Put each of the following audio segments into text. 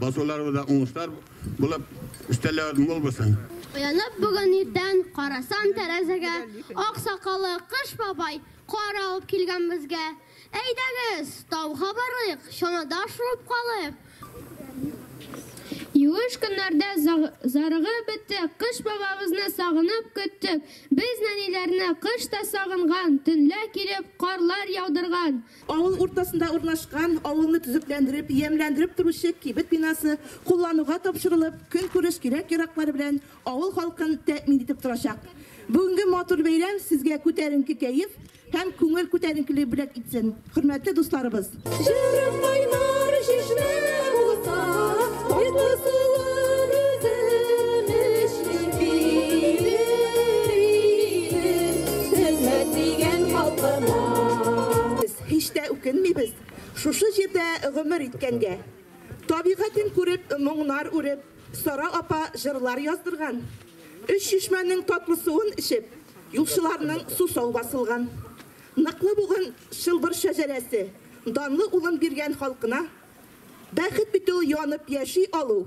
Басуларыбызда уңышлар булып, өстәлләр мул булсын! Уянып бүген иртән, карасам тәрәзәгә, Ак сакаллы Кыш бабай кар алып килгән безгә. Әйдәгез, тауга барыйк, чанада шуып калыйк. Юеш көннәрдә зарыгып беттек, Кыш бабабызны сагынып көттек. Без, нәниләрне, кыш та сагынган, Төнлә килеп, карлар яудырган. Авыл уртасында урнашкан, авылны төзекләндереп, ямьләндереп торучы кибет бинасы куллануга тапшырылып, көнкүреш кирәк-яраклары белән авыл халкын тәэмин итеп торачак. Бүгенге матур бәйрәм сезгә күтәренке кәеф һәм күңел күтәренкелеге бүләк итсен, хөрмәтле дусларыбыз! Җырым кайнар чишмә булса, Кайгы суын өземеш. Һич тә үкенмибез шушы җирдә гомер иткәнгә. Табигатен күреп, моңнар үреп, Сара апа җырлар яздырган. Өч чишмәнең татлы суын эчеп, юлчыларның сусау басылган. Ныклы бугын чылбыр шәҗәрәсе, данлы улын биргән халкына. Бәхет бит ул янып яши алу.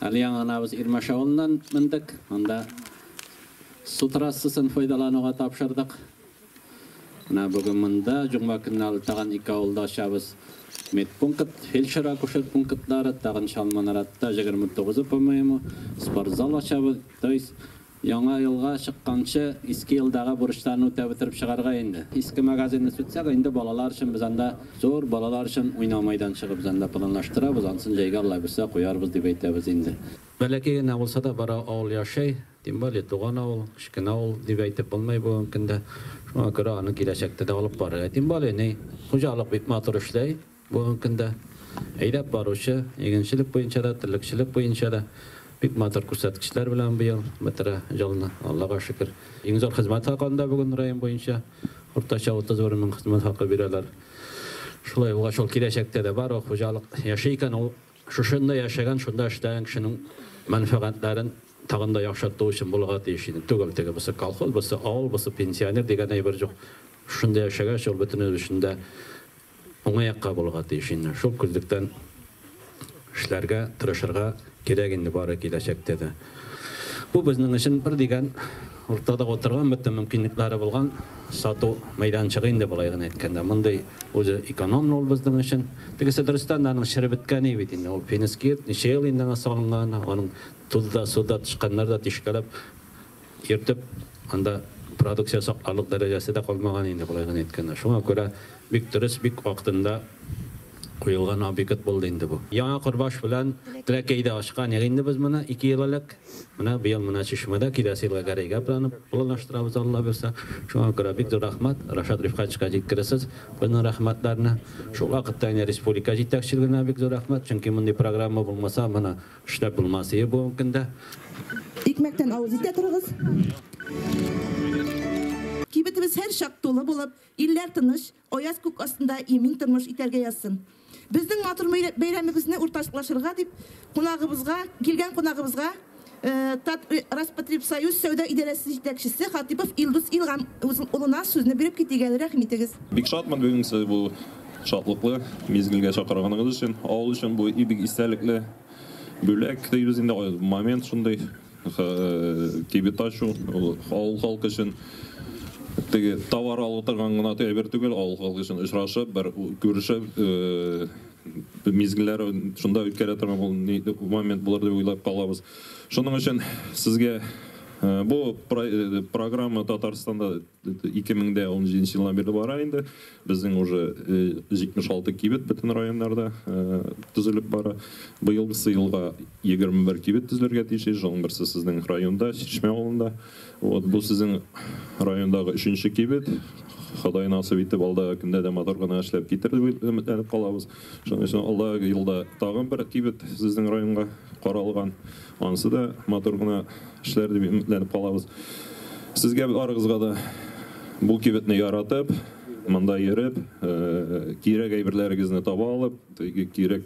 Әле яңа гына без Ирмәш авылыннан мендек. Анда су трассасын файдалануга тапшырдык. Менә бүген монда җомга көнне әле тагын ике авылда ачабыз. Медпункт, фельдшер-акушер пунктлары, тагын Чалманаратта 29, по-моему, спортзал ачабыз. То есть Яңа елга чыкканчы иске елдагы бурычларны үтәп бетереп чыгарга инде. Иске магазинны сүтсәк, инде балалар өчен без анда зур балалар өчен уйнау майданчыгы без анда планлаштырабыз, ансын җәйгә Алла бирсә куярбыз дип әйтәбез инде. Бәләкәй генә булса да бары авыл яшәй, тем более туган авыл, кечкенә авыл дип әйтеп булмый бүгенге көндә. Шуңа күрә аны киләчәктә дә алып барырга. Тем более ни, хуҗалык бик матур эшләй. Бүгенге көндә әйдәп баручы, игенчелек буенча да, терлекчелек буенча да бик матур күрсәткечләр белән быел бетерә елны, Аллага шөкер. Иң зур хезмәт хакында бүген район буенча уртача 31 мең хезмәт хакы бирәләр. Шулай булгач, ул киләчәктә дә бар, ул хуҗалык яши икән, ул шушында яшәгән, шунда эшләгән кешенең мәнфәгатьләрен тагын да яхшырту өчен булырга тиеш иде. Түгел теге, бусы колхоз, бусы авыл, бусы пенсионер дигән әйбер җук. Шушында яшәгәч, ул бөтен өлешендә Уңай якка булырга тиеш инде. Шул күзлектән эшләргә, тырышырга кирәк инде бары киләчәктә дә. Бу безнең өчен бер дигән уртада утырган, бөтен мөмкинлекләре булган сату мәйданчыгы инде болай гына әйткәндә. Мондый үзе экономлы ул безнең өчен. Тегесе дөрестән дә аның чыре беткәне бит инде. Ул финский йорт, ничә ел инде аңа салынган, аның тузда, суда тычканнар да тишкәләп Ертып, анда продукция сакларлык дәрәҗәсе дә калмаган инде, болай гына әйткәндә. Шуңа күрә бик дөрес, бик вакытында куелган объект булды инде бу. Яңа Корбаш белән Теләкәйдә ачкан идек инде без моны ике ел элек. Менә быел менә Чишмәдә, киләсе елга Гәрәйгә планлаштырабыз, Алла бирсә. Шуңа күрә бик зур рәхмәт, Рашат Рифкатьевичка җиткерерсез безнең рәхмәтләрне. Шул вакытта инде республика җитәкчелегенә бик зур рәхмәт, чөнки мондый программа булмаса, моны Эшләп булмас ие бу көндә. Икмәктән авыз итә торыгыз. Кибетебез һәрчак тулы булып, илләр тыныч, аяз күк астында имин тормыш итәргә язсын. Безнең матур бәйрәмебезне уртаклашырга дип, кунагыбызга, килгән кунагыбызга Татроспотребсоюз сәүдә идарәсе җитәкчесе Хатыйпов Илдус Илгам улына сүзне биреп китик әле, рәхим итегез. Бик шатмын бүгенге бу Шатлыклы мизгелгә чакырганыгыз өчен, авыл өчен бу бик истәлекле бүләк дибез инде, момент шундый. Кибет ачу, ул авыл халкы өчен теге товар алып торган гына әйбер түгел, авыл халкы өчен очрашып, бер күрешеп, мизгелләр шунда үткәрә торган ул ни момент булыр дип уйлап калабыз. Шуның өчен сезгә бу программа Татарстанда 2017 елдан бирле бара инде. Безнең уже 76 кибет бөтен районнарда төзелеп бара. Быелгысы елга 21 кибет төзелергә тиеш. Ижауның берсе сезнең районда, Чишмә авылында. Вот бу сезнең райондагы өченче кибет. Ходай насыйп итеп, алдагы көндә дә матур гына эшләп китерер дип өметләнеп калабыз. Шуның өчен алдагы елда тагын бер кибет сезнең районга каралган. Анысы да матур гына эшләр дип өметләнеп калабыз. Сезгә барыгызга да бу кибетне яратып, монда йөреп, кирәк әйберләрегезне таба алып, теге кирәк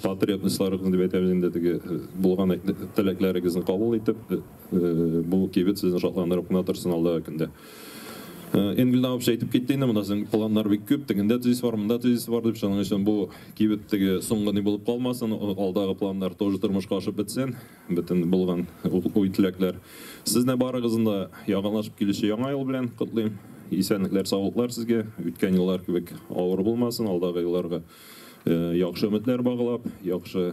потребностьларыгызны дип әйтәбез инде, теге булган теләкләрегезне кабул итеп, бу кибет сезне шатландырып кына торсын алдагы көндә. Э, Энгельдан вообще әйтеп китте инде, монда сезнең планнар бик күп, тегендә тезис бар, монда тезис бар дип, шуның өчен бу кибет теге соңгы ни булып калмасын, алдагы планнар тоже тормышка ашып бетсен, бөтен булган уй теләкләр. Сезне барыгызны да яңалашып килүче яңа ел белән котлыйм. Исәнлекләр, саулыклар сезгә. Үткән еллар кебек авыр булмасын, алдагы елларга э, яхшы өметләр баглап, яхшы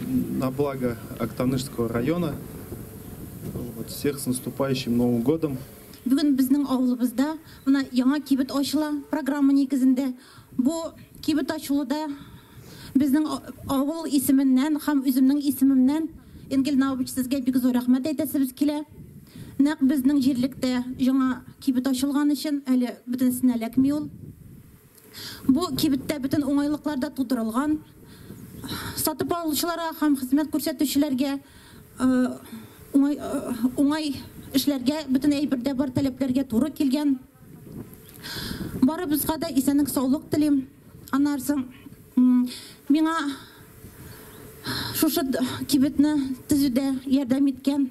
На благо Актанышского района. Вот всех с наступающим Новым годом. Бүген безнең авылыбызда менә яңа кибет ачыла программа нигезендә. Бу кибет ачылуда безнең авыл исеменнән һәм үземнең исемемнән Энгель Наубич сезгә бик зур рәхмәт әйтәсебез килә. Нәкъ безнең җирлектә яңа кибет ачылган өчен әле бөтенесенә эләкми ул. Бу кибеттә бөтен уңайлыклар да тудырылган. Сатып алучыларга һәм хезмәт күрсәтүчеләргә уңай эшләргә, бөтен әйбер дә бар, таләпләргә туры килгән. Барыбызга да исәнлек-саулык телим. Аннары соң миңа шушы кибетне төзүдә ярдәм иткән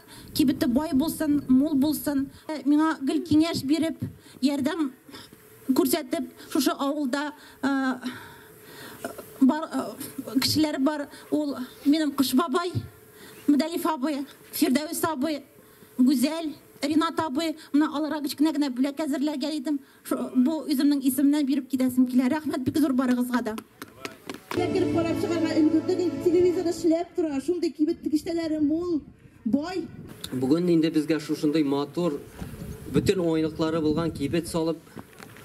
Кибете бай булсын, мул булсын. Миңа гел киңәш биреп, ярдәм күрсәтеп, шушы авылда бар кешеләр бар, ул минем Кыш бабай, Мөдәлиф абый, Фирдәвес абый, Гүзәл, Ринат абый, менә аларга кечкенә генә бүләк әзерләргә идем. Шо, бу үземнең исемнән биреп китәсем килә. Рәхмәт бик зур барыгызга да. Дә кереп карап чыгарга өлгердек, инде телевизор эшләп тора, шундый кибет тегештәләре мул, бай. Бүген инде безгә шушындый матур, бөтен уңайлыклары булган кибет салып,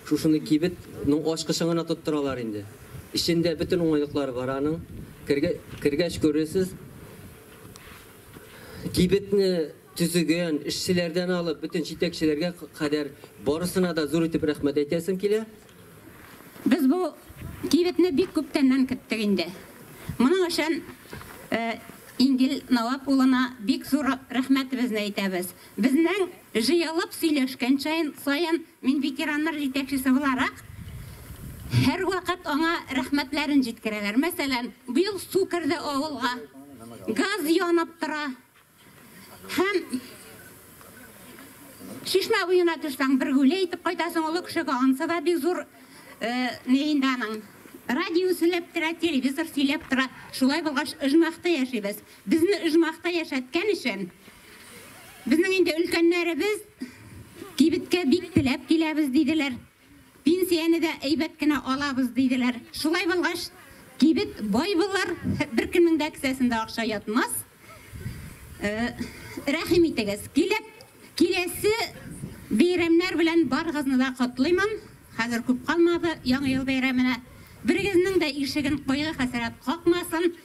шушындый кибет ның ачкычын гына тоттыралар инде. Эчендә бөтен уңайлыклары бар аның. Кергә, кергәч күрерсез. Кибетне Төзегән, эшчеләрдән алып, бөтен җитәкчеләргә кадәр барысына да зур итеп рәхмәт әйтәсем килә. Без бу кибетне бик күптәннән көттек инде. Моның өчен Ингел Навап улына бик зур рәхмәтебезне әйтәбез. Безнең җыелып сөйләшкән саен, мин ветераннар җитәкчесе буларак, һәрвакыт аңа рәхмәтләрен җиткерәләр. Мәсәлән, быел су керде авылга, газ янып тора. Һәм Чишмә буена төшсәң, бер гүле әйтеп кайтасың, олы кешегә ансы да бик зур Лейләнең. Радио сөйләп тора, телевизор сөйләп тора. Шулай булгач, оҗмахта яшибез. Безне оҗмахта яшәткән өчен, безнең инде өлкәннәребез кибеткә бик теләп киләбез, диделәр. Пенсияне дә әйбәт кенә алабыз, диделәр. Шулай булгач, кибет бай булыр, беркемнең дә кесәсендә акча ятмас. Рәхим итегез, килеп, киләсе бәйрәмнәр белән барыгызны да котлыймын. Хәзер күп калмады Яңа ел бәйрәменә. Берегезнең дә ишеген кайгы-хәсрәт какмасын.